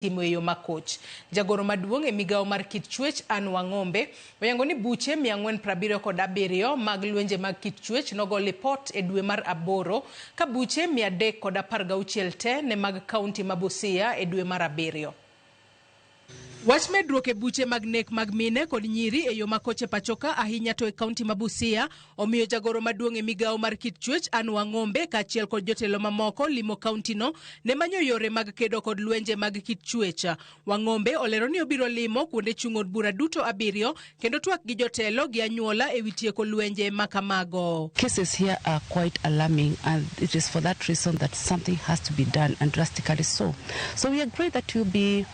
timo e yo makoch. Jagoro maduong' e migawo mar kit chuech Ann Wang'ombe oyango ni buche 477 mag lwenje mag kit chuech nogo lipot e dwe mar aboro ka buche 316 te ne mag kaunti ma Busia e dwe mar abiriyo. Wach medruok e buche mag nek mag mine kod nyiri e yo makoch e pachoka ahinya to e kaunti ma Busia Omiyo jagoro maduong' e migawo mar kit chuech Anne Wang'ombe kaachiel kod jotelo mamoko limo kauntino ne manyo yore mag kedo kod lwenje mag kit chuech. Wang'ombe olero ni obiro limo kuonde chung' od bura duto abiriyo kendo twak gi jotelo gi anyuola ewi tieko lwenje ma kamago. Cases here are quite alarming and it is for that reason that something has to be done and drastically so. So we agree that we will be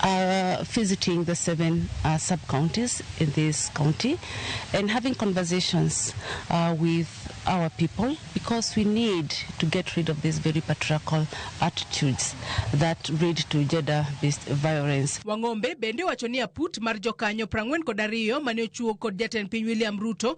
uh, visiting the seven uh, sub counties in this county and having conversations uh, with our people because we need to get rid of these very patriarchal attitudes that lead to gender based violence. Wang'ombe bende owacho ni aput mar jokanyo prang'wen kod ariyo mane ochuo kod jatend piny William Ruto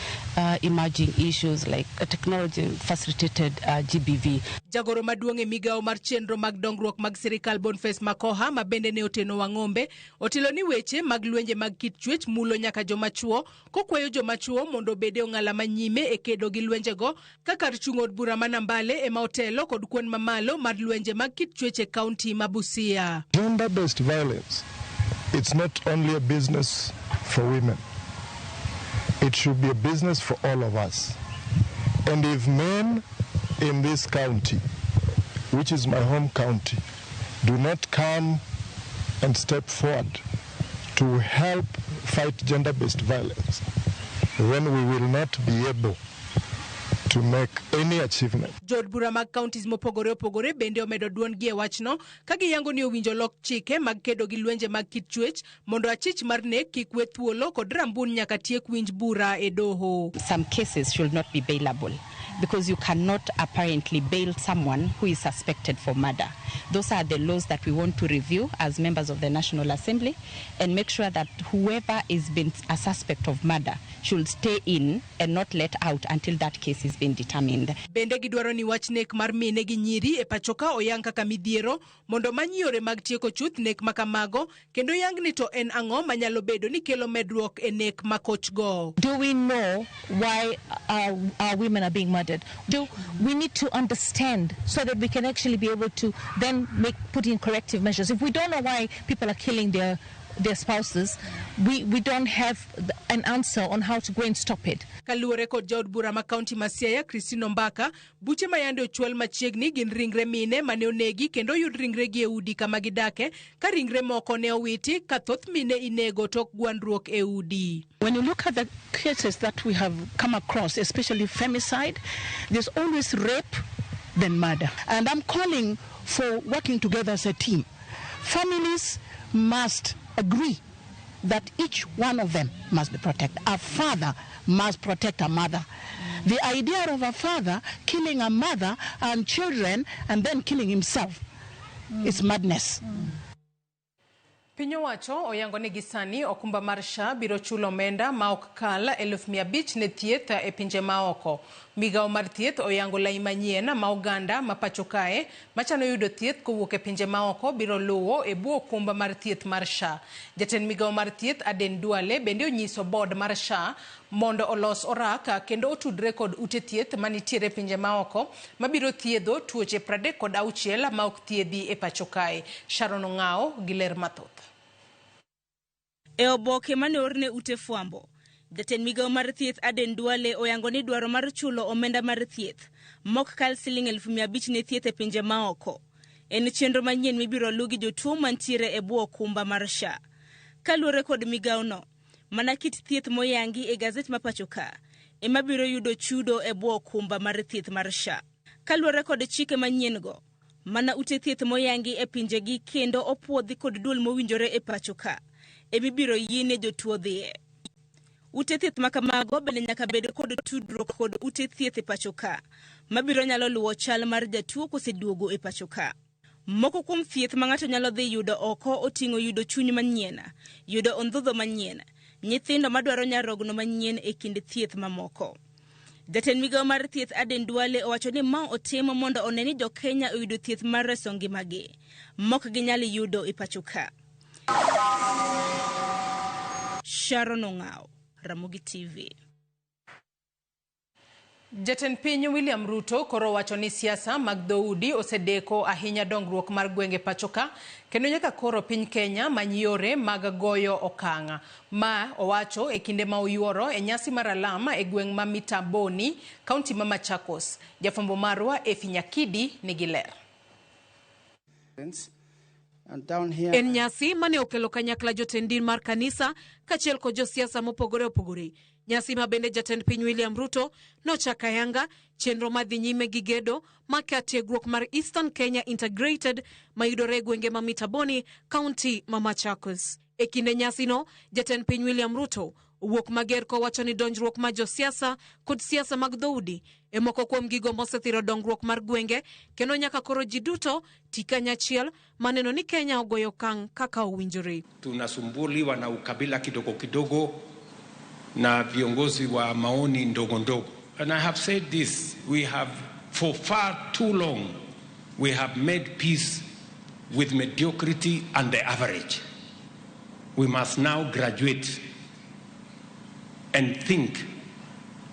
uh, emerging issues like uh, technology facilitated uh, GBV. Jagoro maduong' e migawo mar chenro mag dongruok mag sirikal Boniface Makoha ma bende ne oteno Wang'ombe otelo ni weche mag lwenje mag kit chuech mulo nyaka joma chwo kokwayo joma chwo mondo obed e ong'ala ma nyime e kedo gi lwenjego ka kar chung' od bura ma Nambale ema otelo kod kwan mamalo mar lwenje mag kit chuech e kaunti ma Busia. Gender based violence it's not only a business for women it should be a business for all of us and if men in this county which is my home county do not come and step forward to help fight gender based violence then we will not be able to make any achievement. Jood bura mag counties mopogore opogore bende omedo dwondgi e wachno ka giyango ni owinjo lok chike mag kedo gi lwenje mag kit chuech mondo achich mar nek kik we thuolo kod rambun nyaka tiek winj bura e doho. Some cases should not be bailable because you cannot apparently bail someone who is suspected for murder. Those are the laws that we want to review as members of the National Assembly and make sure that whoever is been a suspect of murder should stay in and not let out until that case is being determined. Bende gidwaro ni wach nek mar mine gi nyiri e pachoka oyang kaka midhiero mondo many yore mag tieko chuth nek ma kamago kendo yang ni to en ang'o manyalo bedo ni kelo medruok e nek ma kochgo. Do we know why our, our women are being murdered? Do we need to understand so that we can actually be able to then make put in corrective measures? If we don't know why people are killing their their spouses, we, we don't have an answer on how to go and stop it. Kaluwore kod jaod bura ma kaunti ma Siaya, Christine Ombaka, buche ma yande ochwal machiegni gin ringre mine mane onegi kendo oyud ringregi e udi kama gidake ka ringre moko ne owiti ka thoth mine inego tok gwandruok e udi. When you look at the cases that we have come across, especially femicide, there's always rape, then murder. And I'm calling for working together as a team. Families must agree that each one of them must be protected. A father must protect a mother. The idea of a father killing a mother and children and then killing himself mm. is madness. Mm. Piny owacho oyango ni gisani okumba mar SHA biro chulo omenda ma ok kal eluf mia abich ne thieth e pinje ma oko. Migawo mar thieth oyango lai manyien ma oganda ma pacho kae machano yudo thieth kowuok e pinje maoko biro luwo e bwo okumba mar thieth mar SHA. Jatend migawo mar thieth Aden Duale bende onyiso board mar SHA mondo olos orak kendo otudre kod ute thieth manitiere pinje maoko mabiro thiedho tuoche pradek kod auchiel maok thiedhi e pacho kae. Sharon Ong'awo gi ler mathoth. E oboke mane oorne ute fwambo, jatend migawo mar thieth Aden Duale oyango ni dwaro mar chulo omenda mar thieth mok kal siling elfu mia abich ne thieth e pinje maoko en chenro manyien mibiro lu gi jotuo mantiere e bwo okumba mar SHA. Kaluore kod migawono, mana kit thieth moyangi e gazet ma pacho ka ema biro yudo chudo e bwo okumba mar thieth mar SHA. Kaluore kod chike manyien go, Mana ute thieth moyangi e pinjegi kendo opuodhi kod duol mowinjore e pacho ka emibiro yiene jotuo dhiye. Ute thieth ma kamago bende nyaka bed kod tudruok kod ute thieth e pacho ka mabiro nyalo luwo chal mar jatuo koseduogo e pacho ka. Moko kuom thieth ma ng'ato nyalo dhi yudo oko oting'o yudo chuny manyien, yudo ondhudho manyien, nyithindo madwaro nyarogno manyien e kind thieth mamoko. Jatend migao mar thieth Aden Duale owacho ni ma otimo mondo one ni jo Kenya oyudo thieth mar reso ngimagi mok ginyal yudo e pacho ka. Sharon Ong'aw, Ramogi TV. Jatend piny William Ruto koro wacho ni siasa mag dhoudi osedeko ahinya dongruok mar gwenge pachoka kendo nyaka koro piny Kenya many yore mag goyo okang'. Ma owacho e kinde ma oyuoro e nyasi mar alam e gweng' ma Mitamboni, kaunti ma Machakos. Jafwambo marwa Efi Nyakidi nigi ler. En nyasi mane okelo kanyakla jotend din mar kanisa kachiel kod josiasa mopogore opogore. Nyasi ma bende jatend piny William Ruto nochako ayanga chenro ma dhi nyime gi gedo maka tiegruok mar Eastern Kenya Integrated mayudore e gwenge ma Mitaboni, kaunti ma Machakos. E kinde nyasino, jatend piny William Ruto owuok mager kowacho ni donjruok ma josiasa kod siasa mag dhoudi e moko kuom gigo mosethiro dongruok mar gwenge kendo nyaka koro ji duto ti kanyachiel maneno ni Kenya ogoyo okang' kaka owinjore. Tunasumbuliwa na ukabila kidogo kidogo na viongozi wa maoni ndogo ndogo. And I have said this, we have for far too long we have made peace with mediocrity and the average we must now graduate and think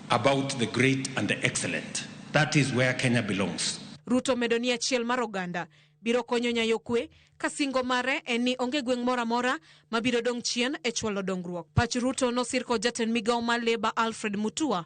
about the great and the excellent that is where Kenya belongs Ruto medo ni achiel mar oganda biro konyo nyayo kwe ka singo mare en ni onge gweng' moro amora mabiro dong' chien e chwalo dongruok. Pach Ruto nosir kod jatend migawo mar Labour Alfred Mutua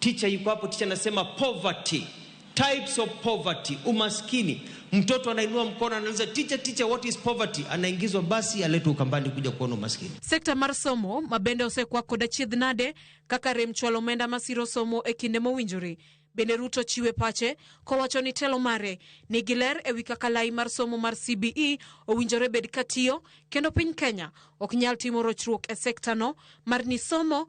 Ticha yuko hapo, ticha anasema poverty, types of poverty, umaskini. Mtoto anainua mkono anauliza ticha, ticha, what is poverty? Anaingizwa basi aletwe Ukambani kuja kuona umaskini. Sekta mar somo mabende osekwa koda chiedh nade kaka rem chwalo omenda masiro somo e kinde mowinjore. Bende Ruto chiwe pache kowacho ni telo mare nigi ler e wi kaka lai mar somo mar CBE owinjore bed katiyo kendo piny Kenya ok nyal timo rochruok e sektano mar ni somo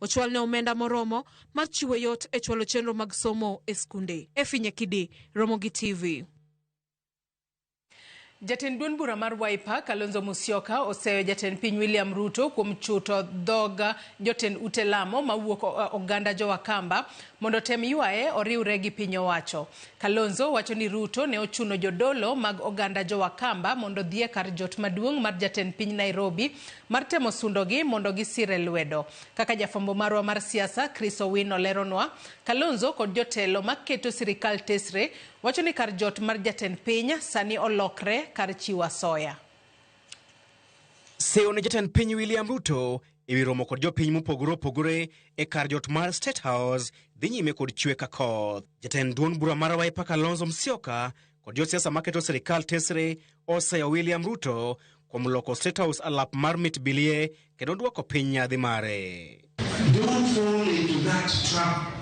ochwalne omenda moromo mar chiwo yot e chwalo chenro mag somo e skunde. Efinye Kidi, Ramogi TV. Jatend duond bura mar Wiper Kalonzo Musyoka oseyo jatend piny William Ruto kuom chuto dhog jotend ute lamo mawuok oganda jowakamba mondo otem ywaye oriwre gi piny owacho. Kalonzo wacho ni Ruto ne ochuno jodolo mag oganda jo Wakamba mondo odhi e kar jot maduong' mar jatend piny Nairobi mar temo sundogi mondo gisire lwedo. Kaka jafwambo marwa mar siasa Chris Owino leronwa, Kalonzo kod jotelo maketo sirikal tesre wacho ni kar jot mar jatend piny sani olokre kar chiwo asoya. Seyo ne jatend piny William Ruto e wi romo kod jopiny mopogore opogore e kar jot mar State House dhi nyime kod chwe ka koth. Jatend duond bura mar Wiper Kalonzo Musyoka kod josiasa maketo sirikal tesre oseyo William Ruto kuom loko State House alap mar mit bilie kendo dwoko piny nyadhi mare. Don't fall into that trap.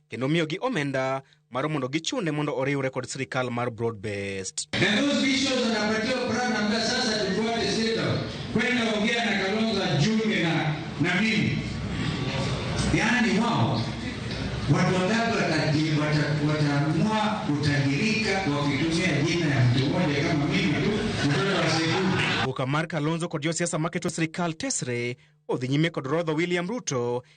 kendo miyogi omenda mar mondo gichune mondo oriwre kod sirikal mar broad based. Yaani wao watu wangapi wataamua kutajirika wakitumia jina ya mtu mmoja kama mimi tu mtoto wa Sekuru. Buka Mark Alonzo kod josiasa maketo sirikal tesre odhi nyime kod rodho William Ruto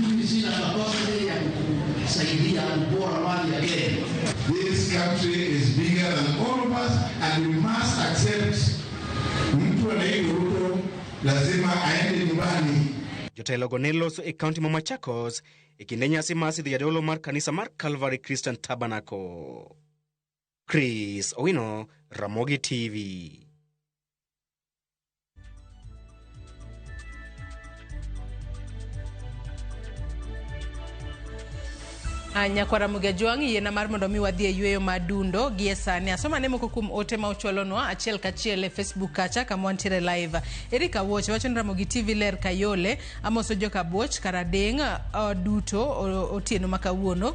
Mimi sina capacity ya kusaidia kupora mali ya Kenya. This country is bigger than all of us and we must accept mtu anaitwa Ruto lazima aende nyumbani. Jotelogo ne loso e kaunti ma Machakos e kinde nyasi mar sidho jadolo mar kanisa mar Calvary Christian Tabernacle. Chris Owino, Ramogi TV. Ah, nyakwara mugejwang' yiena mar mondo mi wadhi e yueyo ma dundo gi e sani asoma ne moko kuom ote ma uchwalonwa achiel kachiel e facebook kacha kama wantiere live erik awuoch wacho ni ramogi tv ler kayole amoso joka buoch karadeng' uh, duto otieno ma kawuono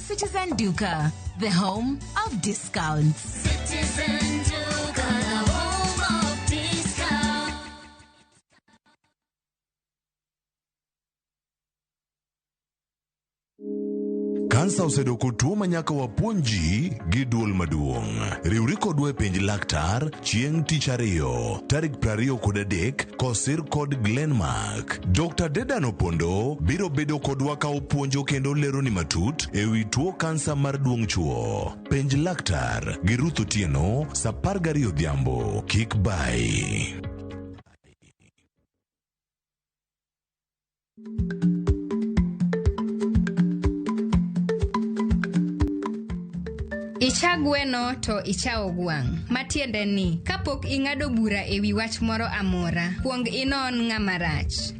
Citizen Duka, the home of discounts. Kansa osedoko tuo ma nyaka wapuonj ji gi duol maduong'. Riwri kodwa e penj laktar chieng' tich ariyo tarik 20 kod adek kosir kod Glenmark. nyak. Dr. Dedan Opondo biro bedo kodwa ka opuonjo kendo leroni matut e wi tuo kansa mar duong' chuo. Penj laktar gi Ruth Otieno sa apar gariyo odhiambo. Kik bayi. Icha gweno to ichawo gwang', matiende ni kapok ing'ado bura e wi wach moro amora, kwong inon ng'ama rach.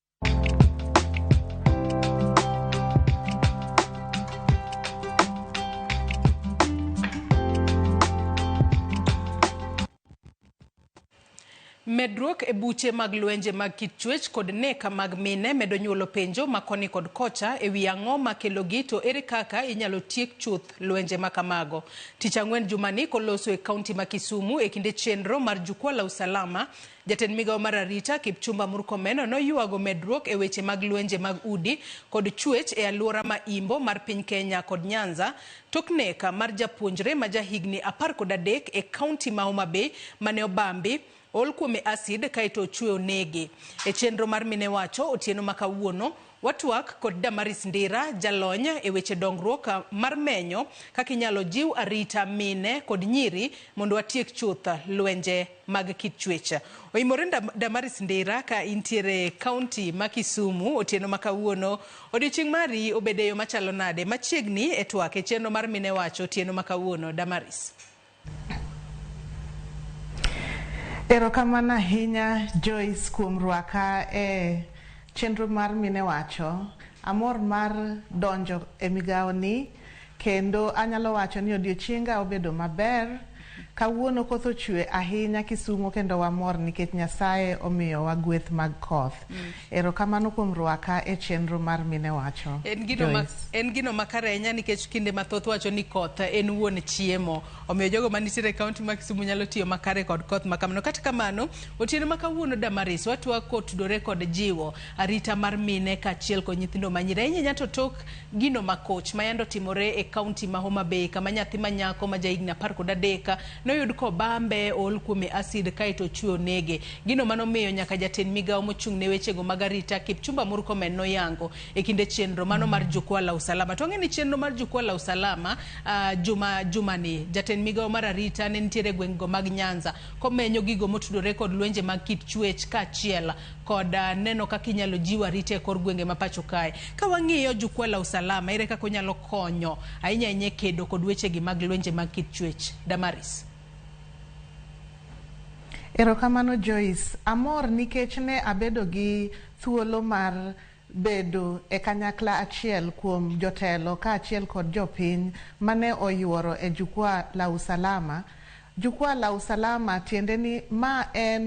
Medruok e buche mag lwenje mag kit chuech kod neka mag mine medo nyuolo penjo ma koni kod kocha e wi ang'o ma kelogi to ere kaka inyalo tiek chuth lwenje ma kamago. Tich Ang'wen jumani koloso e kaunti ma Kisumu e kinde chenro mar Jukwaa la Usalama Jatend migao mar arita Kipchumba Murkomeno noyuago medruok e weche mag lwenje mag udi kod chuech e aluora ma Imbo mar piny Kenya kod Nyanza tok nek mar japuonjre ma ja higni apar kod adek e kaunti ma Homa Bay mane obambi, ool kuome acid kaeto ochwe onege. E chenro mar Minewacho otieno ma kawuono, Watwak kod Damaris Ndira, jalony e weche dongruok mar menyo kaka inyalo jiw arita mine kod nyiri mondo watiek chuth lwenje mag kit chuech. Oimore Damaris Ndira ka intiere e kaunti ma Kisumu otieno ma kawuono. Odiochieng' mari obedo e yo machalo nade? Machiegni e twak e chenro mar Mine Wacho otieno ma kawuono. Damaris. Erokamano ahinya Joyce kuom rwaka e chenro mar mine wacho. Amor mar donjo e migawo ni kendo anyalo wacho ni odiochienga obedo maber. Kawuono koth ochwe ahinya Kisumo kendo wamor nikech Nyasaye omiyowa gweth mag koth. Erokamano kuom rwaka e chenro mar mine wacho. En gino, ma, en gino makare ahinya nikech kinde mathoth wacho ni koth en wuon chiemo. Omiyo jogo manitiere e kaunti ma Kisumu nyalo tiyo makare kod koth makamano. Kata kamano, otieno ma kawuono Damaris watwak kotudore kod jiwo arita mar mine kaachiel kod nyithindo manyiri. Ahinya ahinya to tok gino makoch ma yande otimore e kaunti ma Homa Bay kama nyathi manyako ma jahigni apar kod adek noyud kobambe ool kuome asid kaeto ochwe onege. Gino mano miyo nyaka jatend migawo mochung' ne wechego mag arita Kipchumba Murkomen noyango e kinde chenro mano mar Jukwaa la Usalama. To ang'e ni chenro mar Jukwaa la Usalama uh, juma jumani jatend migawo mar arita ne nitiere gweng'go mag Nyanza komenyo gigo motudore kod lwenje mag kit chuech kaachiel kod uh, neno kaka inyalo jiw arita e kor gwenge ma pacho kae. Ka wang'iyo Jukwaa la Usalama ere kaka onyalo konyo ahinya ahinya e kedo kod wechegi mag lwenje mag kit chuech? Damaris. Erokamano Joyce. Amor nikech ne abedo gi thuolo mar bedo e kanyakla achiel kuom jotelo kaachiel kod jopiny mane oyuoro e Jukwaa la Usalama. Jukwaa la Usalama tiende ni ma en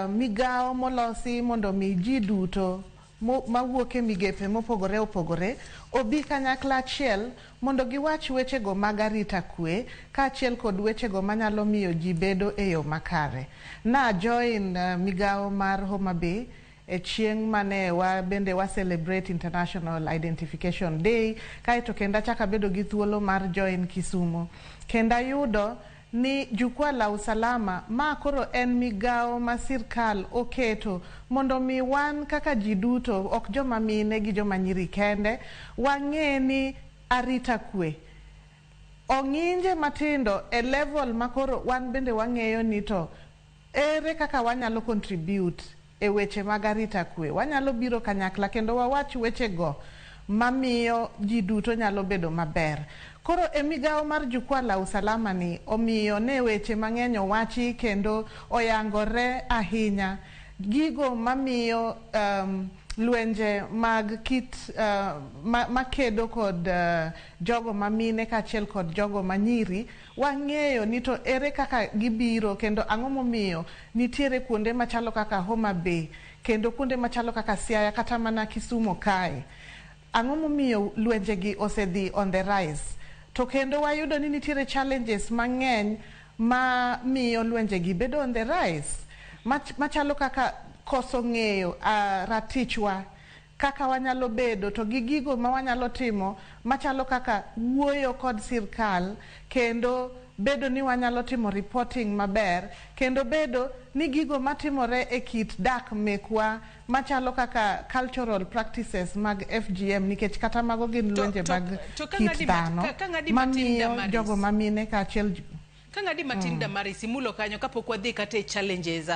Migawo molosi mondo omi ji duto mawuok e migepe mopogore opogore obi kanyakla achiel mondo giwach wechego mag arita kwe kaachiel kod wechego manyalo miyo ji bedo e yo makare. Na join migawo mar Homa Bay e chieng' mane wa bende wa celebrate International Identification Day kaeto kendo achako abedo gi thuolo mar join Kisumo kendo ayudo ni Jukwaa la Usalama, ma koro en migawo ma sirkal oketo mondo omi wan kaka ji duto, ok joma mine gi joma nyiri kende, wang'e ni arita kwe ong'inje matindo e level ma koro wan bende wang'eyo ni to Ere kaka wanyalo contribute e weche mag arita kwe? Wanyalo biro kanyakla kendo wawach wechego ma miyo ji duto nyalo bedo maber. Koro e migawo mar Jukwaa la Usalama ni, omiyo ne weche mang'eny owachi kendo oyangore ahinya gigo ma miyo lwenje mag kit ma kedo kod jogo ma mine kaachiel kod jogo ma nyiri Wang'eyo ni to ere kaka gibiro kendo ang'o momiyo nitiere kuonde machalo kaka Homa Bay kendo kuonde machalo kaka Siaya kata mana Kisumo kae. Ang'o momiyo lwenje gi ose dhi on the rise. To kendo wayudo ni nitiere challenges mang'eny ma miyo lwenje gi bedo on the rise machalo kaka koso ng'eyo ratich wa. kaka wanyalo bedo, to gi gigo ma wanyalo timo machalo kaka wuoyo kod sirkal kendo bedo ni wanyalo timo reporting maber kendo bedo ni gigo matimore e kit dak mekwa machalo kaka cultural practices mag FGM nikech kata mago gin lwenje mag kit dhano mamiyo jogo mamine kaachiel Kang'adi matin mm. Damaris imulo kanyo kapok wadhi kata e challenges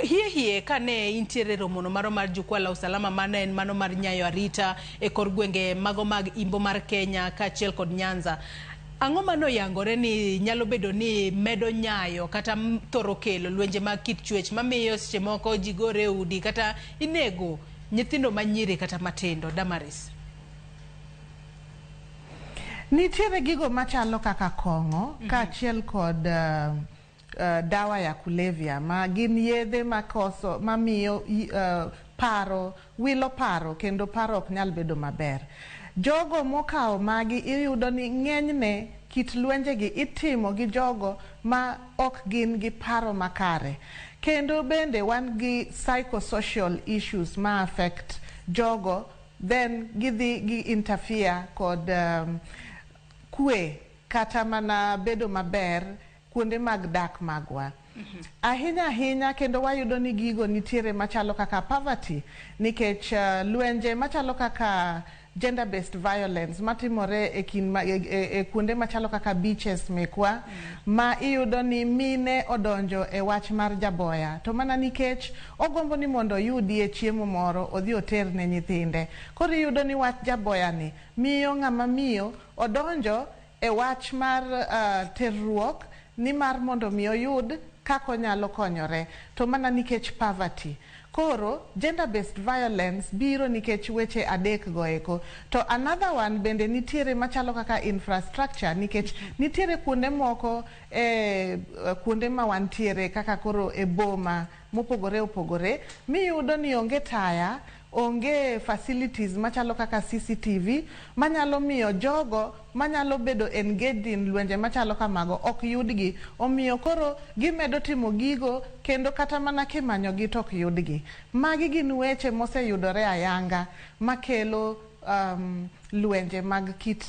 hie hie kane intiere romono maro mar jukwaa la usalama mane en mano mar nyayo arita e kor gwenge mago mag imbo mar Kenya kaachiel kod Nyanza ang'o ma noyangore ni nyalo bedo ni medo nyayo kata thoro kelo lwenje mag kit chuech mamiyo seche moko ji gore e udi kata inego nyithindo manyiri kata matindo Damaris Nitiere gigo machalo kaka kong'o mm -hmm. kaachiel kod uh, uh, dawa ya kulevya ma gin yedhe makoso mamiyo uh, paro wilo paro kendo paro ok nyal bedo maber. Jogo mokawo magi iyudo ni ng'enyne kit lwenjegi itimo gi jogo ma ok gin gi paro makare. Kendo bende wan gi psychosocial issues ma affect jogo then gidhi gi interfere kod kwe kata mana bedo maber kuonde mag dak magwa. Ahinya ahinya kendo wayudo ni gigo nitiere machalo kaka poverty nikech lwenje machalo kaka gender based violence matimore e kind e kuonde machalo kaka beaches mekwa ma iyudo ni mine odonjo e wach mar jaboya to mana nikech Ogombo ni mondo oyudie chiemo moro odhi oter ne nyithinde. Koro iyudo ni wach jaboyani miyo ng'ama miyo odonjo e wach mar terruok ni mar mondo mi oyud kaka onyalo konyore to mana nikech poverty. Koro gender based violence biro nikech weche adek go eko. To another one bende nitiere machalo kaka infrastructure nikech nitiere kuonde moko e kuonde ma wantiere kaka koro e boma. mopogore opogore miyudo ni onge taya, onge facilities machalo kaka CCTV manyalo miyo jogo manyalo bedo engaged in lwenje machalo kamago ok yudgi. Omiyo koro gimedo timo gigo kendo kata mana kimanyogi to ok yudgi. Magi gin weche moseyudore ayanga makelo lwenje mag kit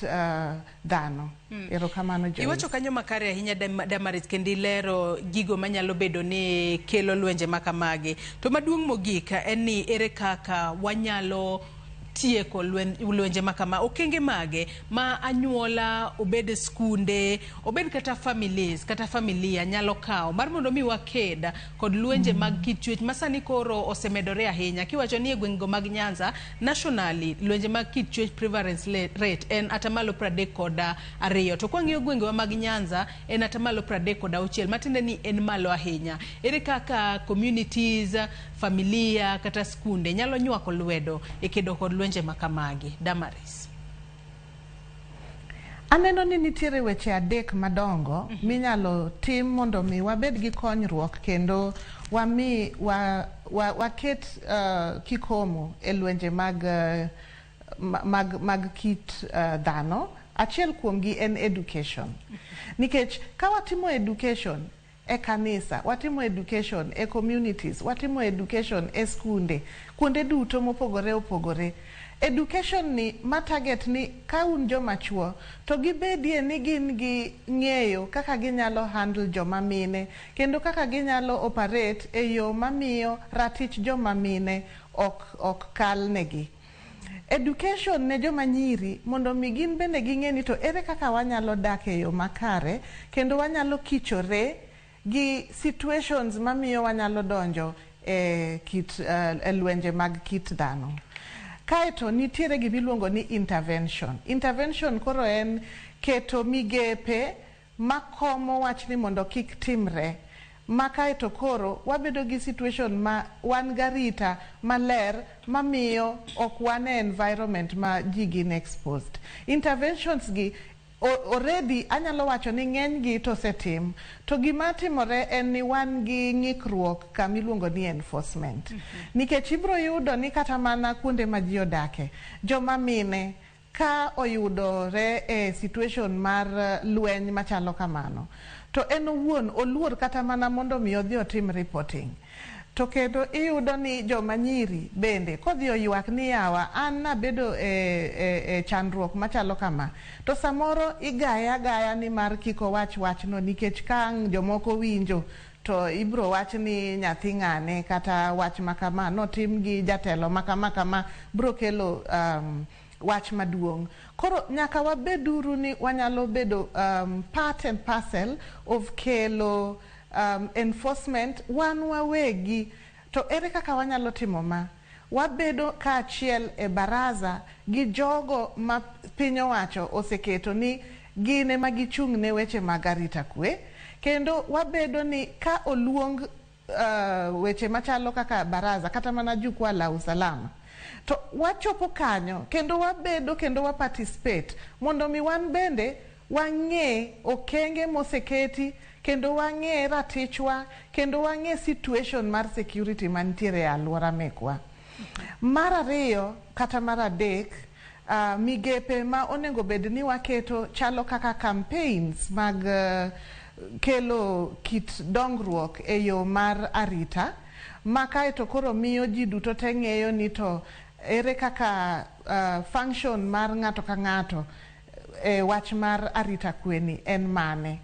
dhano. Mm. Erokamano Joyce. Iwacho kanyo makare ahinya Damaris kendo ilero gigo manyalo bedo ni kelo lwenje makamagi. To maduong' mogik en ni ere kaka wanyalo tieko lwenje makama okenge mage ma anyuola obed skunde obed kata families kata familia nyalo kawo mar mondo mi waked kod lwenje mm. mag kit chuech masani koro osemedore ahinya kiwacho ni e gweng'go mag Nyanza Nationally, lwenje mag kit chuech prevalence le- rate en atamalo pradek kod ah, ariyo to kwang'iyo gwengewa mag Nyanza en atamalo pradek kod auchiel matiende ni en malo ahinya. Ere kaka communities, familia kata skunde nyalo nywako lwedo e kedo kod lwenje makamagi? Damaris. Aneno ni nitiere weche adek madongo mm -hmm. minyalo tim mondo mi wabed gi konyruok kendo wami wa, wa, waket uh, kikomo e lwenje mag, uh, mag, mag kit uh, dhano. Achiel kuomgi en education. Mm -hmm. Nikech ka watimo education e kanisa, watimo education e communities, watimo education e skunde, kuonde duto mopogore opogore. Education ni ma target ni ka un joma chuo to gibedie ni gin gi ng'eyo kaka ginyalo handle joma mine kendo kaka ginyalo operate e yo mamiyo ratich joma mine ok ok kalnegi. Education ne joma nyiri mondo mi gin bende ging'e ni to ere kaka wanyalo dak e yo makare kendo wanyalo kichore gi situations mamiyo wanyalo donjo e kit e lwenje mag kit dhano. Kaeto nitiere gimiluongo ni intervention. Intervention koro en keto migepe ma komo wach ni mondo kik timre ma kae to koro wabedo gi situation ma wan garita maler mamiyo ok wan e environment ma ji gin exposed. Interventions gi already anyalo wacho ni ng'eny gi to osetim to gima timore en ni wan gi ng'ikruok kama iluongo ni enforcement nikech ibiro yudo ni kata mana kuonde ma ji odake joma mine Ka oyudore e situation mar lweny machalo kamano to en owuon oluor kata mana mondo mi odhi otim reporting. To kendo iyudo ni joma nyiri bende kodhi oywak ni yawa an nabedo e, e, e chandruok machalo kama to samoro igaye agaya ni mar kik owach wachno nikech ka ang' jomoko winjo To ibiro wach ni nyathi ng'ane kata wach ma kama notim gi jatelo ma kama kama biro kelo um, wach maduong'. Koro nyaka wabeduru ni wanyalo bedo um, part and parcel of kelo um, enforcement wan wawegi. To ere kaka wanyalo timo ma? Wabedo kaachiel e Baraza gi jogo ma piny owacho oseketo ni gin ema gichung' ne weche mag arita kwe, kendo wabedo ni ka oluong weche machalo kaka Baraza kata mana Jukwaa la Usalama to wachopo kanyo kendo wabedo kendo wa participate mondo mi wan bende Wang'e okenge moseketi kendo wang'e ratichwa kendo wang'e situation mar security mantiere e aluora mekwa. Mar ariyo kata mar adek migepe ma onengo bed ni waketo chalo kaka campaigns mag kelo kit dongruok e yo mar arita ma kaeto koro miyo ji duto te ng'eyo ni to ere kaka function mar ng'ato ka ng'ato e wach mar arita kwe ni en mane.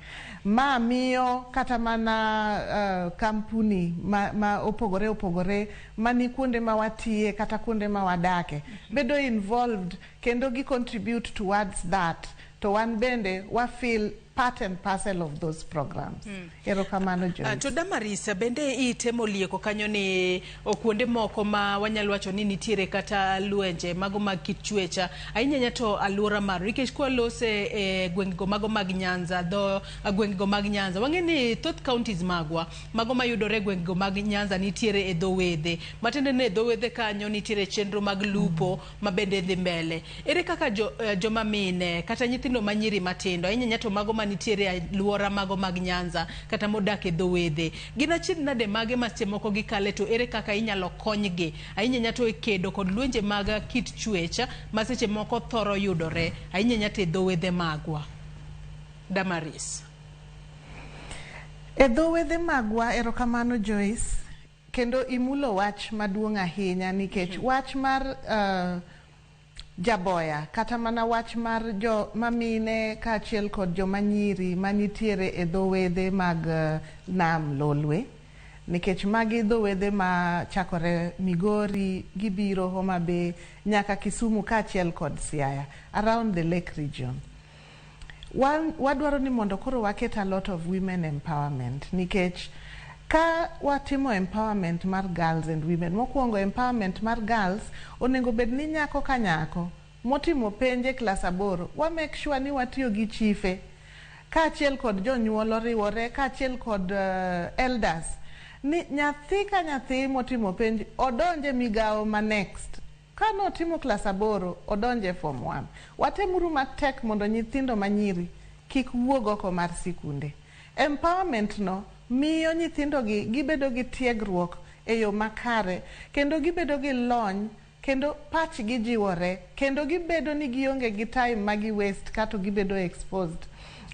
Ma miyo kata mana uh, kampuni ma, ma opogore opogore mani kuonde ma watiye kata kuonde ma wadake bedo involved kendo gi contribute towards that to wan bende wa feel part and parcel of those programs. Mm. Erokamano Joyce. Uh, to Damaris, bende itemo lieko kanyo ni okuonde moko ma wanyalo wacho ni nitiere kata lwenje mago mag kit chwecha ahinya nya to aluora mar nikech kwa lose e eh, gwengego mago mag Nyanza dho eh, gwengego mag Nyanza wang'e ni thoth counties magwa mago mayudore gwengego mag Nyanza nitiere e dho wedhe matiende ni e dho wedhe kanyo nitiere chenro mag lupo mm. mabende dhi mbele ere kaka jo, uh, joma mine kata nyithindo ma nyiri matindo ahinya nyato mago manitiere aluora mago mag nyanza kata modak e dho wedhe gin achiedh nade mage ma seche moko gikale to ere kaka inyalo konygi ahinya nyato e kedo kod lwenje mag kit chuech ma seche moko thoro yudore ahinya nyato e dho wedhe magwa damaris e dho wedhe magwa erokamano joyce Kendo imulo wach maduong' ahinya nikech wach mar jaboya kata mana wach mar jo mamine kaachiel kod joma nyiri manitiere e dho wedhe mag nam lolwe nikech magi dho wedhe ma chakore Migori gibiro Homa Bay nyaka Kisumu kaachiel kod Siaya around the lake region. Wan wadwaro ni mondo koro waket a lot of women empowerment nikech ka watimo empowerment mar girls and women, mokuongo empowerment mar girls onengo bed ni nyako ka nyako motimo penj e klas aboro wa make sure ni watiyo gi chife kaachiel kod jonyuol oriwore kaachiel kod elders ni nyathi ka nyathi motimo penj odonj e migawo ma next Ka notimo klas aboro, odonjo e Form One. Watemuru matek mondo nyithindo ma nyiri kik wuog oko mar sikunde. Empowerment-no miyo nyithindogi gibedo gi tiegruok e yo makare kendo gibedo gi lony kendo pachgi jiwore kendo gibedo ni gionge gi time ma gi waste kato gibedo exposed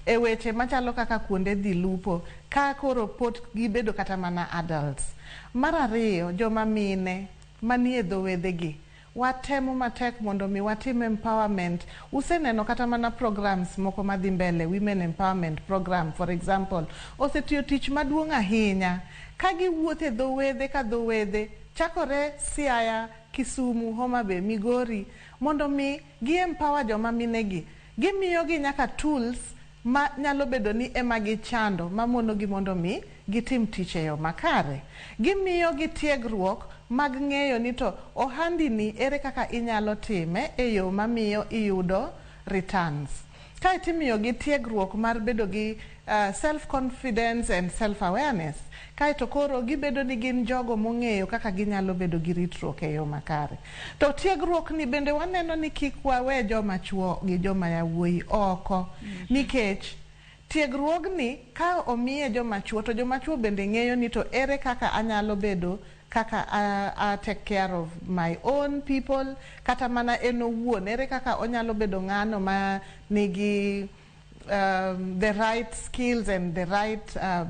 e weche machalo kaka kuonde dhi lupo ka koro pot gibedo kata mana adults. Mar ariyo, joma mine. manie dho wedhegi. Watemo matek mondo mi watim empowerment. Useneno kata mana programs moko madhi mbele, women empowerment program for example, osetiyo tich maduong' ahinya ka giwuotho e dho wedhe ka dho wedhe chakore Siaya, Kisumu, Homa Bay, Migori mondo mi gi empower joma minegi. Gimiyogi nyaka tools ma nyalo bedo ni e ma gichando ma monogi mondo omi gitim tich e yo makare. Gimiyogi tiegruok mag ng'eyo ni to ohandini ere kaka inyalo time e yo ma miyo iyudo returns. Kae to imiyogi tiegruok mar bedo gi self-confidence and self-awareness. Kae to koro gibedo ni gin jogo mong'eyo kaka ginyalo bedo gi ritruok e yo makare. To tiegruokni bende waneno ni kik wawe joma chwo gi joma yawuoyi oko nikech tiegruogni ka omiye joma chwo to joma chwo bende ng'eyo ni to ere kaka anyalo bedo kaka a, a take care of my own people kata mana en owuon ere kaka onyalo bedo ng'ano ma nigi um, the right skills and the right uh,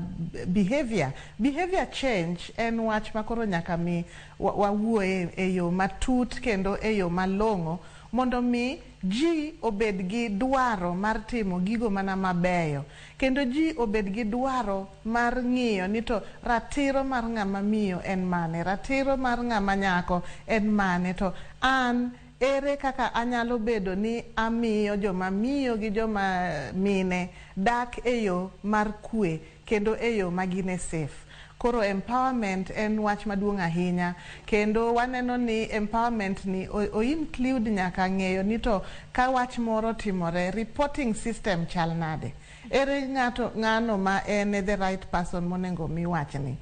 behavior behavior change en wach ma koro nyaka mi wawuoye wa e yo matut kendo e yo malong'o mondo mi ji obed gi dwaro mar timo gigo mana mabeyo kendo ji obed gi dwaro mar ng'iyo ni to ratiro mar ng'ama miyo en mane ratiro mar ng'ama nyako en mane to an Ere kaka anyalo bedo ni amiyo joma miyo gi joma mine dak e yo mar kwe kendo e yo ma gin e safe? Koro empowerment en wach maduong' ahinya kendo waneno ni empowerment ni o include nyaka ng'eyo ni to ka wach moro otimore, reporting system chal nade? Ere ng'ato ng'ano ma en e the right person monengo omi wachni?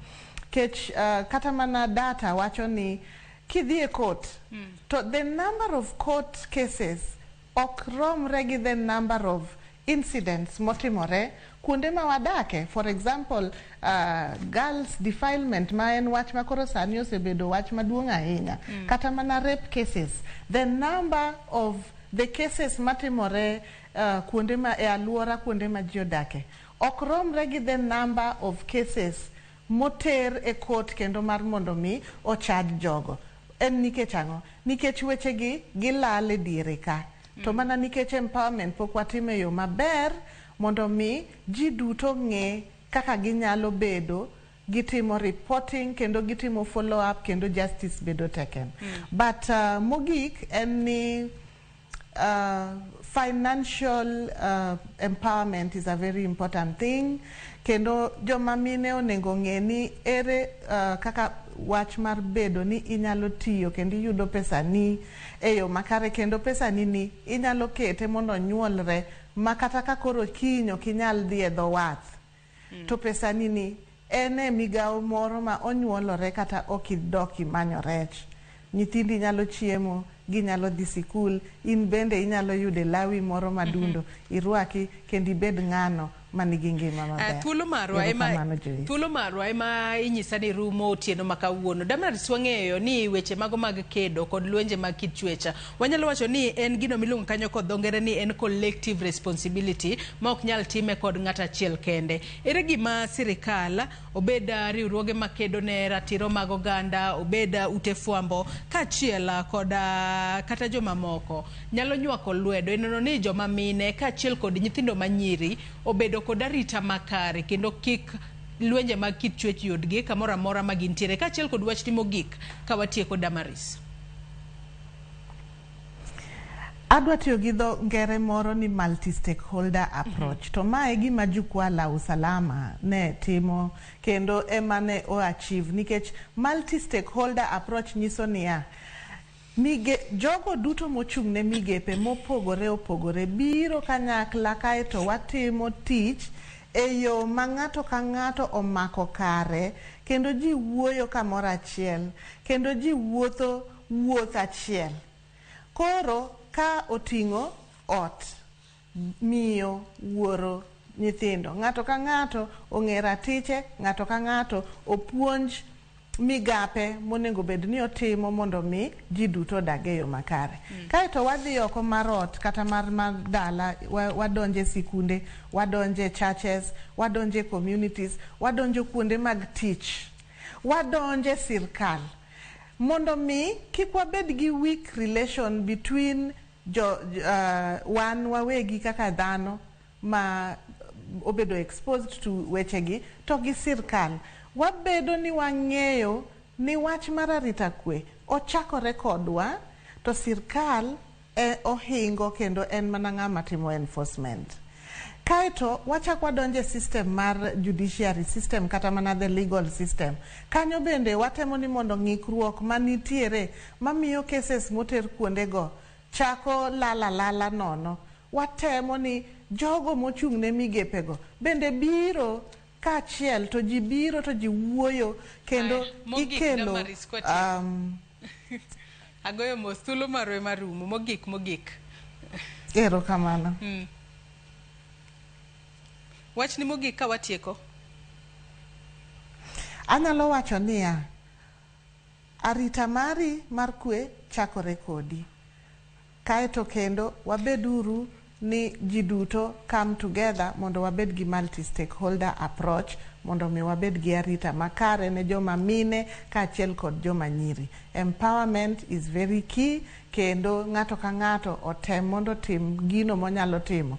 Kech kata mana data wacho ni Kidhi e court to the number of court cases ok romre gi the number of incidents motimore kuonde ma wadake. For example, girls defilement ma en wach ma koro sani osebedo wach maduong' ahinya. Kata mana rape cases. The number of the cases matimore kuonde ma e aluora kuonde ma ji odake ok romre gi the number of cases. moter e kot kendo mar mondo omi ochaj jogo. En nikech ang'o? Nikech wechegi gilal e diere ka. To mana nikech empowerment pok watimo e yo maber mondo omi ji duto ong'e kaka ginyalo bedo gitimo reporting kendo gitimo follow up kendo justice bedo taken. But mogik en ni. Uh, financial uh, empowerment is a very important thing kendo joma mine onego ong'e ni ere uh, kaka wach mar bedo ni inyalo tiyo kendo iyudo pesani e yo makare kendo pesani ni inyalo kete mondo onyuolre ma kata ka koro kiny ok inyal dhi e dho wath To pesani ni en e migawo moro ma onyuolore kata ok idok imanyo rech. Nyithindi nyalo chiemo, ginyalo dhi sikul, in bende inyalo yude lawi moro madundo irwaki kendo ibed ng'ano ma nigi ngima maber. Thuolo marwa ema Erokamano Joyce. thuolo marwa ema inyisa ni rumo otieno ma kawuono. Damrats wang'eyo ni weche mago mag kedo kod lwenje mag kit chwecha Wanyalo wacho ni en gino miluongo kanyo kod dho ngere ni en collective responsibility ma ok nyal time kod ng'ato achiel kende. Ere gima sirikal, obed ah, riwruoge makedo ne ratiro mag oganda, obed ah, ute fwambo, kaachiel ah, kod ah, kata jomamoko nyalo nywako lwedo e nono ni joma mine kaachiel kod nyithindo manyiri obedo kod arita makare kendo kik lwenje mag kit chuech yudgi kamoro amora ma gintiere kaachiel kod wachni mogik ka watieko Damaris. Adwa tiyo gi dho ngere moro ni multi-stakeholder mhm. approach. Mm -hmm. To ma e gima jukwaa la usalama ne timo kendo ema ne o achieve nikech multi-stakeholder approach nyiso niya Mige, jogo duto mochung' ne migepe mopogore opogore biro kanyakla kae to watimo tich e yo ma ng'ato ka ng'ato omako kare kendo ji wuoyo kamoro achiel kendo ji wuotho wuoth achiel. Koro ka oting'o ot, miyo, wuoro, nyithindo, ng'ato ka ng'ato ong'e ratiche, ng'ato ka ng'ato opuonj migape monego bed ni otimo mondo mi ji duto odag e yo makare. Kae to wadhi oko mar ot kata mar mar dala, wa- wadonjo e sikunde, wadonjo e churches, wadonjo e communities, wadonjo kuonde mag tich, wadonjo e sirkal. Mondo mi kik wabed gi weak relation between jo, uh, wan wawegi kaka dhano ma obedo exposed to wechegi to gi sirkal, wabedo ni wang'eyo ni wach mar arita kwe ochakore kodwa to sirkal e ohingo kendo en mana ng'ama timo enforcement. Kaeto wachak wadonj e system mar judiciary system kata mana the legal system. Kanyo bende watemo ni mondo ng'ikruok manitiere mamiyo cases moter kuondego chako lal alala nono. Watemo ni jogo mochung' ne migepego bende biro kaachiel to ji biro to ji wuoyo kendo Aya, mogik ikelo Damaris kwatieko. um, Agoyo mos, thuolo marwa ema rumo. Mogik, mogik. Erokamano. Mm. Wachni mogik ka watieko. Anyalo wacho niya, arita mari mar kwe chakore kodi. Kae to kendo, wabed uru ni ji duto come together mondo wabed gi multi-stakeholder approach mondo mi wabed gi arita makare ne joma mine kaachiel kod joma nyiri. Empowerment is very key kendo ng'ato ka ng'ato otem mondo otim gino monyalo timo.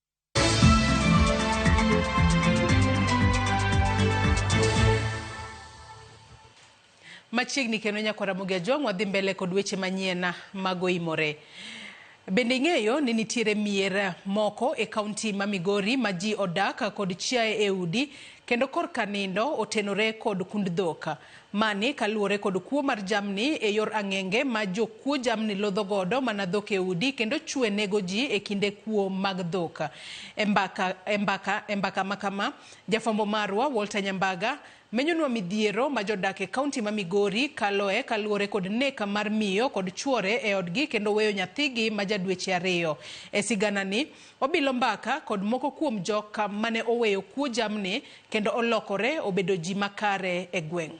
machiegni kendo nyako Ramogi Ajwang' wadhi mbele kod weche manyien mago imore. Bende ing'eyo ni nitiere mier moko e kaunti ma Migori ma ji odak kod chiaye e udi kendo korka nindo otenore kod kund dhok. Mani kaluwore kod kuo mar jamni e yor ang'enge ma jokuo jamni lodho godo mana dhok e udi kendo chwe nego ji e kinde kuo mag dhok. E mbaka e mbaka e mbaka ma kama, jafwambo marwa Walter Nyambaga menyonwa midhiero ma jodak e kaunti ma Migori kaloe kaluwore kod nek mar miyo kod chuore e odgi kendo weyo nyathigi ma ja dweche ariyo. E siganani, Obilo mbaka kod moko kuom jok mane oweyo kuo jamni kendo olokore obedo ji makare e gweng'.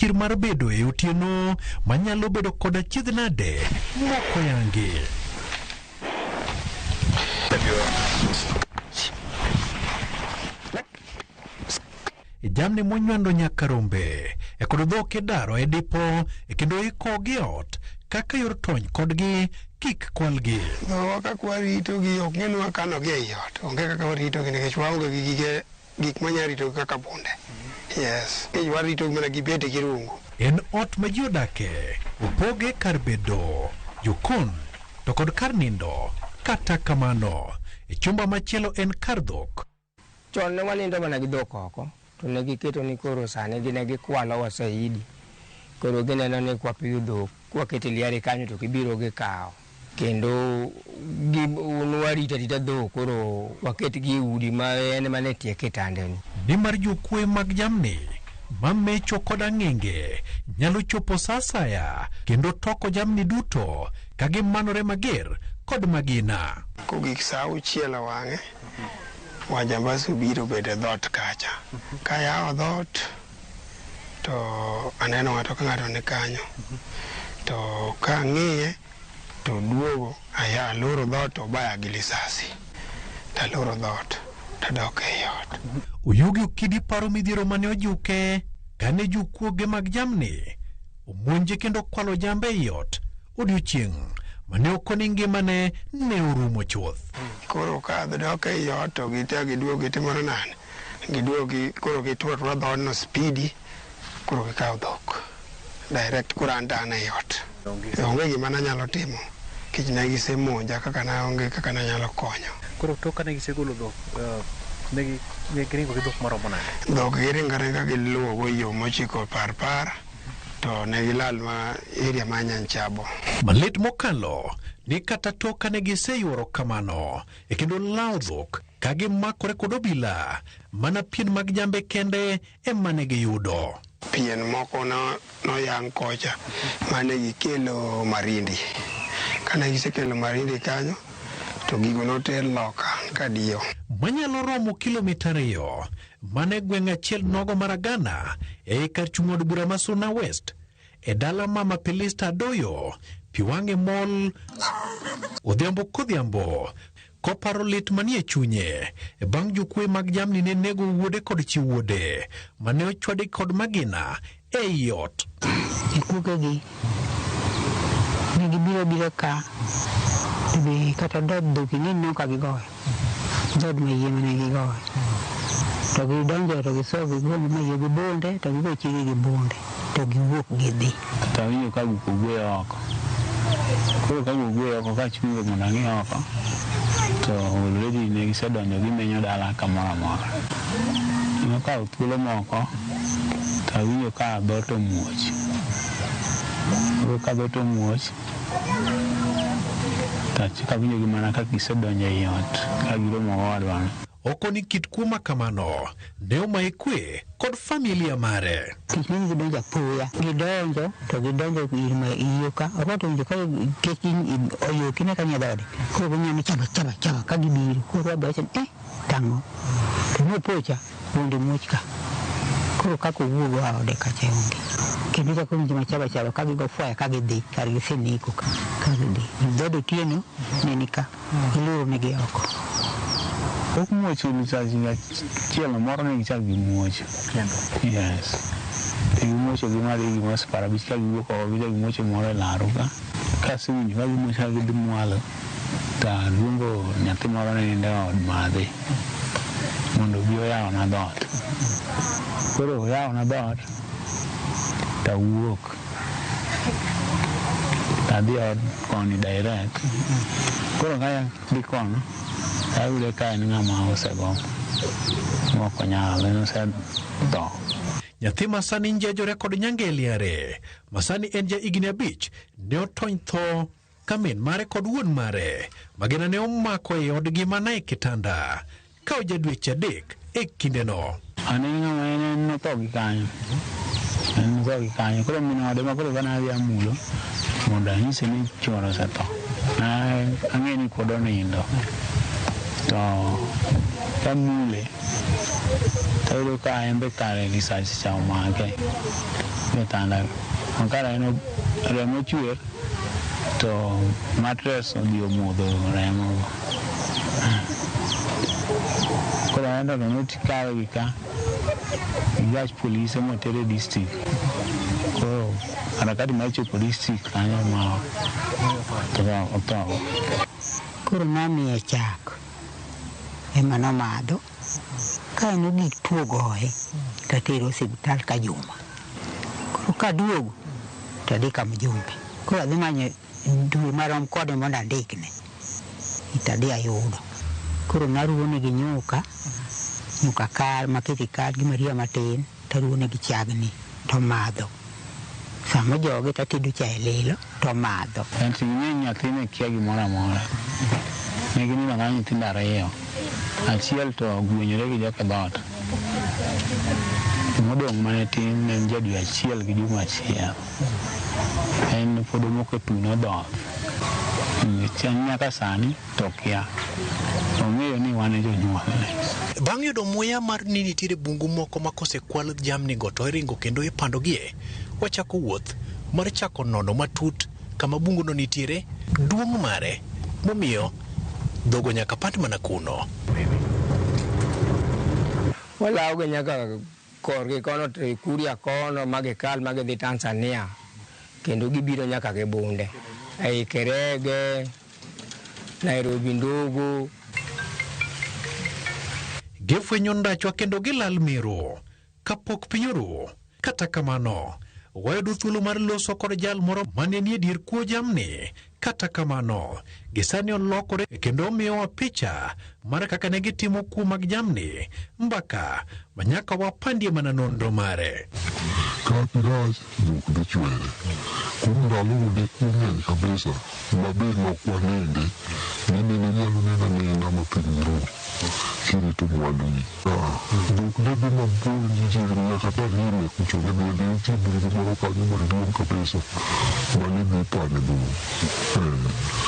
chir mar bedo e otieno manyalo bedo kod achiedh nade moko yangi. jamni monywando nyaka rombe e kod dhok idaro e dipo e kendo ikogi ot kaka yor tony kodgi kik kwalgi. Dhowa kaka waritogi ok ng'e ni wakanogi ei ot. Onge kaka waritogi nikech waonge gi gige Gik ma nyalo ritogi kaka punde. Yes. Nikech waritogi mana gi bede gi rungu. En ot ma ji odake, opoge kar bedo, jokon, to kod kar nindo. Kata kamano, e chumba machielo en kar dhok. Chon ne wanindo mana gi dhok oko, to ne giketo ni koro sani gin e gikwalo wasaidi. Koro gineno ni kwapiyo dhok, kwakete liare kanyo to gibiro gikawo. Kendo gi un warita rita dhok koro waketgi e udi ma en ema ne tie kitandeni. Nimar jokuoye mag jamni ma mecho kod ang'enge nyalo chopo sa asaya kendo toko jamni duto ka gimanore mager kod magina. Kogik sa auchiel owang'e, wajambazi obiro obedo e dhoot kacha. Kayawo dhoot. to aneno ng'ato ka ng'ato ni kanyo to ka ang'iye to duogo aya aloro dhoot to obaya gi lisasi taloro dhoot tadok ei ot Oyugi Okidi paro midhiero mane ojuke kane jokuoge mag jamni omonje kendo kwalo jambe ei ot odiochieng' mane okoni ngimane ne orumo chuth. koro ka adok ei ot to gite giduogo gitimore nade giduogi koro gituro atura dhoodno spidi koro gikawo dhok direct koro an to an ei ot onge gima nanyalo timo kech ne gisemonja kaka naonge kaka nanyalo konyo Koro tok kane gisegolo dhok, eh, ne gi- ne giringo gi dhok maromo nade? dhok giringo aringa giluwogo yo mochiko parpar to ne gilal ma area ma nyanchabo Malit mokalo ni kata tok kane giseyuoro kamano e kendo lawo dhok ka gimakore kod obila, mana pien mag jambe kende ema ne giyudo. Pien moko noyang kocha mane gikelo Marindi. Kane gisekelo Marindi kanyo to gigo noter loka kadiyo. Manyalo romo kilomita ariyo mane gweng' achiel nogo mar Agana ei kar chung' od bura ma Suna West e dala mama Pelista Adoyo, Piwang'e Mall, odhiambo kodhiambo Koparo lit manie chunye bang' jokwe mag jamni ne nego wuode kod chi wuode ma ne ochwadi kod magina e i ot. Jikuogegi ne gibiro abira ka ibi kata dhood dhoki ni ineno ka gigoyo dhood mayie mane gigoyo to gidonjo to gisoyo gi gombe mayie gi bunde to gigo chiege gi bunde to giwuok gidhi. to awinjo ka guok ogweyo oko. Koro ka guok ogweyo oko ka achungo mondo ang'i oko to already ne gisedonjo gimenyo dala kamoro amora. Nokawo thuolo moko to awinjo ka dhoot omuoch. Koro ka dhoot omuoch to achako awinjogi mana ka gisedonjo ei ot ka giromo gi owadwano. Oko ni kit kuo ma kamano ne omaye kwe kod familia mare. Kech ne gidonjo apoya, gidonjo to gidonjo ir ma iyoka oko to winjo ka kech oyoki ne kanye dhode. Koro ginya ni chaba chaba chaba ka gibiro. Koro abe wacho ni eh tang'o. To ne opocha wuonde muoch ka. Koro kaka owuog oa ode kacha onge. Kendo chako winjo ma chaba chaba ka gigo fwaya ka gidhi kar giseneko ka gidhi. Dhode otieno ne ni ka. ileronegi oko. Pok muoch ulu chak higa chielo moro ne gichak gi muoch. Yes. Gi muocho gi mali gi mas para bi chak gi ko gi chak gi muocho moro laru ka. Ka siwinj ka gi muoch ka gi mwalo ta luongo nyathi moro ne nende od madhi mondo bi oyawo na dot. Koro oyawo na dot ta wuok. Adhi ot koni direct. Koro kaya dhi kono, ayude ka en ng'ama osego mok onyal, en osetho. Nyathi ma sani njejore kod nyangeli are, ma sani en ja higni abich, ne otony tho ka min mare kod wuon mare magina ne omako e odgi mana e kitanda ka oja dweche adek e kindeno. An en ng'ama en en notho gi kanyo. En notho gi kanyo. Koro min ode ma koro kane adhi amulo mondo anyise ni chwore osetho. Na ang'e ni pod onindo. To kamule tayudo ka en be kare lisasi cha omake e tanda. Kara en remo chwer. To matres odhi omodho remo go. Koro aneno to notikawe gi ka gi gach polise motere district. Koro harakati mar chopo district kanyo ma otho. Koro nomiye chak ema nomadho. Ka en ogik tuo goye to atere osiptal ka juma. Koro ka aduogo to adhi ka mjumbe. Koro adhi manyo dwe marom kode mondo andikne. To adhi ayudo. Koro naruwo negi nyuka, nyuka kal, makete kal gi Maria matin. to aruwonegi chagni, to omadho. Sama ojogi to atedo cha e lilo, to omadho. Enti ging'eny nyathi ne kia gimoro amora. Ne ginindo ang'ala nyithindo ariyo. Achiel to ogwenyore gi joka e dhoot. Modong' mane tin ne en ja dwe achiel gi juma achiel. En pod omoko e tuno dhoth. Nyaka sani. To okia. Ong'eyo ni wan e jonyuolne. Bang' yudo muya mar ni nitiere bungu moko ma kosekwal jamnigo to iringo kendo ipandogie, wachako wuoth mar chako nono matut kama bunguno nitiere, duong' mare, momiyo dhogo nyaka pand mana kuno. Walawoga nyaka Korgi kono to e Kuria kono ma gikal ma gidhi Tanzania kendo gibiro nyaka gi bunde ei Kerege, Nairobi Ndogo. Gifwenyo ndachwa kendo gilal Meru kapok piny oru. Kata kamano, wayudo thuolo mar loso kod jal moro ma ne nie dier kuo jamni Kata kamano, gisani olokore kendo omiyowa picha mar kaka ne gitimo kuo mag jamni mbaka ma nyaka wapandie mana nonro mare. Kapi rach dhok dhi chwere. Kuom ndalogo ne kuo ng'eny kabisa ma be ne ok waninde ni mine nyalo neno anena ma piny ru kirito mwanduni. Dhok debe mabor gi chiegni nyaka ta hime kucho ne bende nitie bungu moro kanyo maduong' kabisa mane dhi pane dhou. Eh,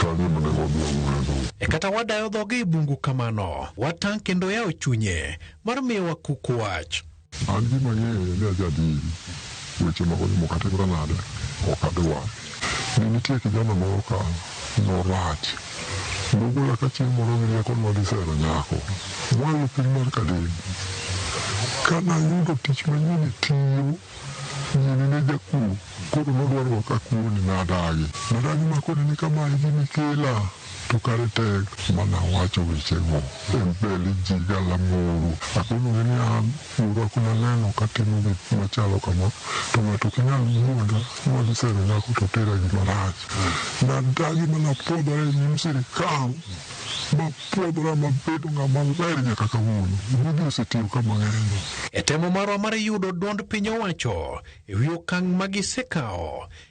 kanyo ema ne wadwang'ore dhou. E kata wadayo dhoge e bungu kamano, watang' kendo oyawo chunye mar miyowa kuk wach. An gima ang'eyo ni ajadiri. Weche mag onimo kata imra nade, ok adwar. Ne nitie kijana moro ka norach. Nogola ka chieng' moro gi rieko nwa gisero nyako. Mwa yo piny mar Kadin. Ka nayudo tich manyien e tiyo, nyiri ne jakuo. Koro nodwa rwaka akuo ni nadagi. Nadagi ma koni ni kama e gima ikela to kare tek. Ma nawacho wechego e mbele ji galamoro. Akonogi ni an. Riwruok maneno katimo gik machalo kama to ng'ato ok nyal wuonda ni wadhi sero nyako to otera gima rach. Nadagi ma napwodhora e nyim sirikal mapwodhora mabedo ng'ama ler nyaka kawuono. Gigi osetiyo ka mang'eny. E temo marwa mar yudo duond piny owacho e wi okang' ma gisekawo,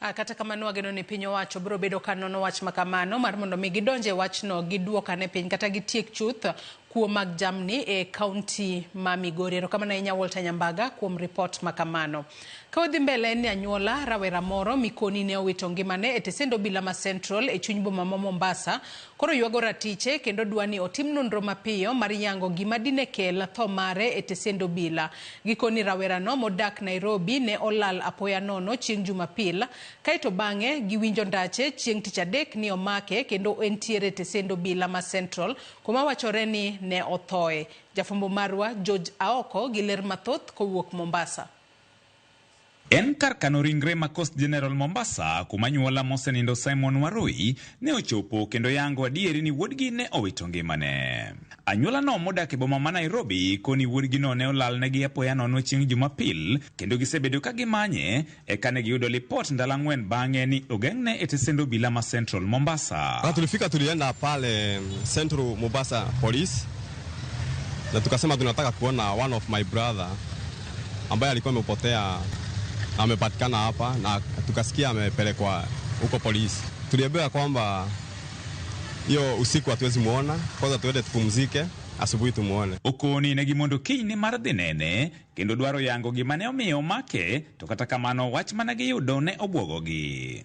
Ah, kata kamano wageno ni piny owacho biro bedo ka nono wach ma kamano mar mondo mi gidonje wachno giduokane piny kata gitiek chuth kuo mag jamni e kaunti ma Migori. Erokamano ahinya Walter Nyambaga kuom ripot ma kamano. Ka wadhi mbele en ni anyuola rawera moro mikoni ne owito ngimane e tesend obila ma Central e chuny boma ma Mombasa koro ywago ratiche kendo dwa ni otim nonro mapiyo mar yango gima dine kel tho mare e tesend obila. Gikoni rawerano modak Nairobi ne olal apoya nono chieng' Jumapil, kae to bang'e giwinjo ndache chieng' Tich Adek ni omake kendo entiere e tesend obila ma Central kuma wachore ni ne othoe. Jafwambo marwa George Aoko gi ler mathoth kowuok Mombasa. En kar kano ringre ma Coast General Mombasa kuma nyuola mosenindo Simon Warui ne ochopo kendo yango adieri ni wuodgi ne owito ngimane. Anyuolano modak e boma ma Nairobi koni wuodgino ne olalnegi apoya nono chieng' Jumapil kendo gisebedo ka gimanye eka ne giyudo lipot ndalo ang'wen bang'e ni ogeng'ne e tesend obila ma Central Mombasa. Na tulifika tulienda pale Central Mombasa Police na tukasema tunataka kuona one of my brother ambaye alikuwa amepotea amepatikana hapa na tukasikia amepelekwa huko polisi. Tuliambiwa kwamba hiyo usiku hatuwezi muona, kwanza tuende tupumzike, asubuhi tumuone. ukuni ne gimondo kiny ni mar dhi nene kendo dwaro yango gima ne omiyo omake to kata kamano wach mana giyudo ne obwogogi.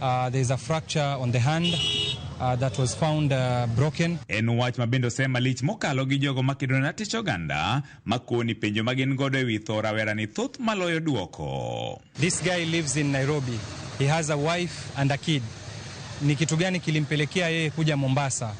Uh, there is a fracture on the hand uh, that was found uh, broken. En wach ma bende osema lich mokalo gi jogo ma kedo ne tich oganda ma koni penjo ma gin godo e wi tho rawera ni thoth maloyo duoko. This guy lives in Nairobi. He has a wife and a kid. Ni kitu gani kilimpelekea yeye kuja Mombasa?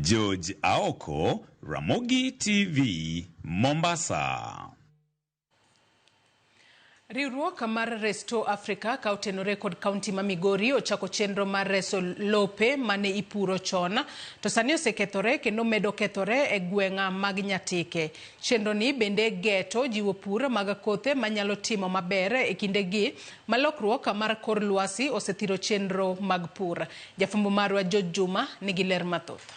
George Aoko, Ramogi TV, Mombasa. Riwruok mar Restore Africa ka otenore kod kaunti ma Migori ochako chenro mar reso lope mane ipuro chon to sani osekethore kendo medo kethore e gweng'a mag Nyatike. Chenro ni bende geto jiwo pur mag kothe manyalo timo maber e kindegi ma lokruok mar kor lwasi osethiro chenro mag pur. Jafwambo marwa George Juma nigi ler mathoth.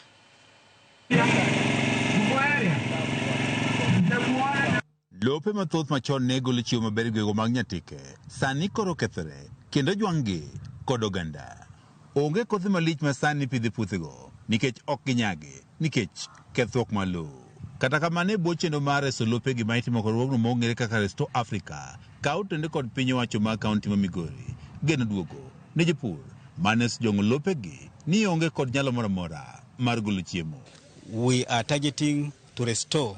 Lope mathoth machon ne golo chiwo maber e gwego mag Nyatike, sani koro okethore kendo ojwang'gi kod oganda. Onge kothe malich ma sani ipidho e puothego nikech ok ginyagi. nikech kethruok mar lowo. Kata kamano, e bwo chenro mar reso lope, gima itimo kod riwruogno ma ong'ere kaka Restore Africa, kawo otende kod piny owacho mag kaunti ma Migori, geno duogo ne jopur ma ne osejong'o lopegi ni onge kod nyalo moro amora mar golo chiemo. We are targeting to restore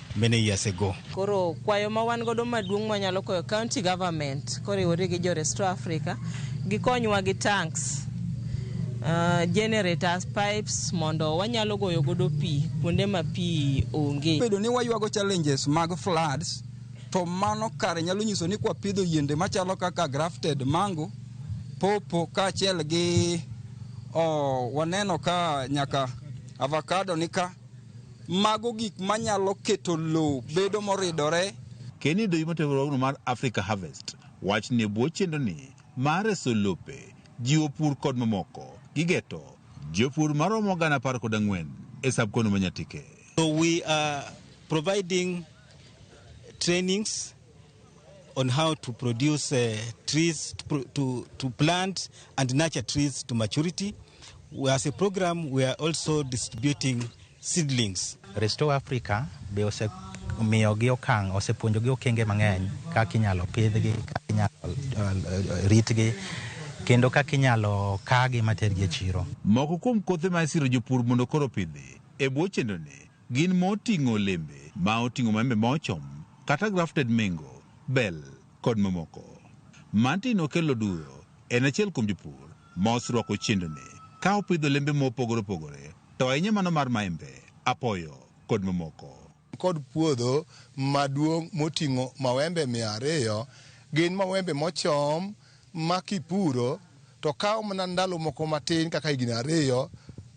many years ago. Koro kwayo ma wan godo maduong' mwanyalo koyo county government koriwore gi jo Restore Africa gikonywa gi tanks uh, generators pipes mondo wanyalo goyo godo pi kuonde ma pi onge. Bedo ni waywago challenges mag floods to mano kare nyalo nyiso ni kwapidho yiende machalo kaka grafted mango, popo kaachiel gi oh, waneno ka nyaka avocado nika Mago gik ma nyalo keto lowo bedo moridore. Ken idho yuma tiegruogno mar Africa Harvest wachni e bwo chenroni mar reso lope, jiwo pur kod mamoko gi geto jopur maromo gana apar kod ang'wen e sub kono ma Nyatike. So we are providing trainings on how to produce uh, trees to, pro- to, to plant and nurture trees to maturity. We- As a program, we are also distributing seedlings. Restore Africa be osemiyogi okang' osepuonjogi okenge mang'eny kaka inyalo pidhgi, kaka inyalo uh, ritgi kendo kaka inyalo kagi matergi e chiro. Moko kuom kothe ma isiro jopur mondo koro opidhi e bwo chenroni Gin moting'o olembe ma oting'o maembe ma ochom kata grafted mengo, bel, kod mamoko. Martin Okello Oduro en achiel kuom jopur ma oserwako chendoni ka opidho olembe ma opogore opogore to ahinya mano mar maembe, apoyo, kod mamoko. An kod puodho maduong' moting'o mawembe mia ariyo. Gin mawembe mochom. ma kipuro to kawo mana ndalo moko matin kaka higni ariyo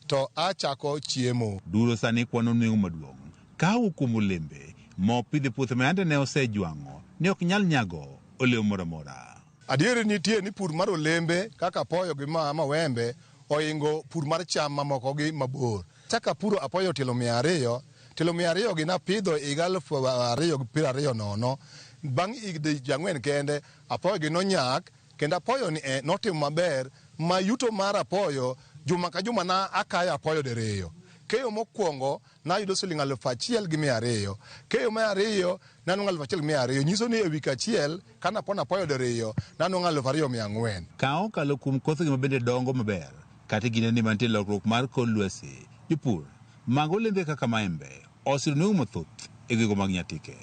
to a chako chiemo. Duro sani kwano nweng'o maduong'. Kahawa kuom olembe ma opidho e puothe ma yande ne osejwang'o ne ok nyal nyago olemo moro amora. Adieri nitie ni pur mar olembe kaka apoyo gi ma mawembe ohingo pur mar cham mamokogi mabor. Achako apuro apoyo tielo mia ariyo. Tielo mia ariyogi napidho e higa aluf ariyo gi piero ariyo nono. Bang' higni ang'wen kende, apoyogi nonyak kendo apoyoni e notimo maber ma yuto mar apoyo juma ka juma na akayo apoyo diriyo. Keyo mokwongo nayudo siling' aluf achiel gi mia ariyo. Keyo mar ariyo nanwang'o aluf achiel gi mia ariyo. Nyiso ni e wik achiel kane apono apoyo diriyo nanwang'o aluf ariyo mia ang'wen. Ka okalo kuom kothgi mabende dongo maber, Kata e kindeni ma nitie lokruok mar kor lwasi, jopur mag olembe kaka maembe osiro nweng'o mathoth e gwego mag Nyatike.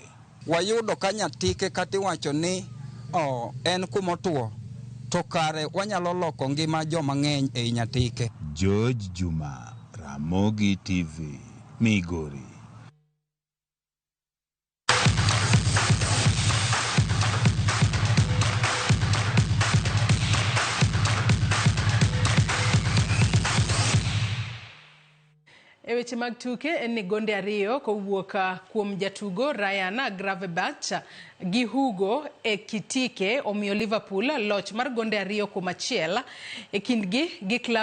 Wayudo ka Nyatike kata iwacho ni en kuma otuo to kare wanyalo loko ngima joma ng'eny ei Nyatike. George Juma, Ramogi TV, Migori. E weche mag tuke en ni gonde ariyo kowuok ah, kuom jatugo Ryan Gravenberch gi Hugo Ekitike omiyo Liverpool loch mar gonde ariyo kuom achiel e kindgi gi klab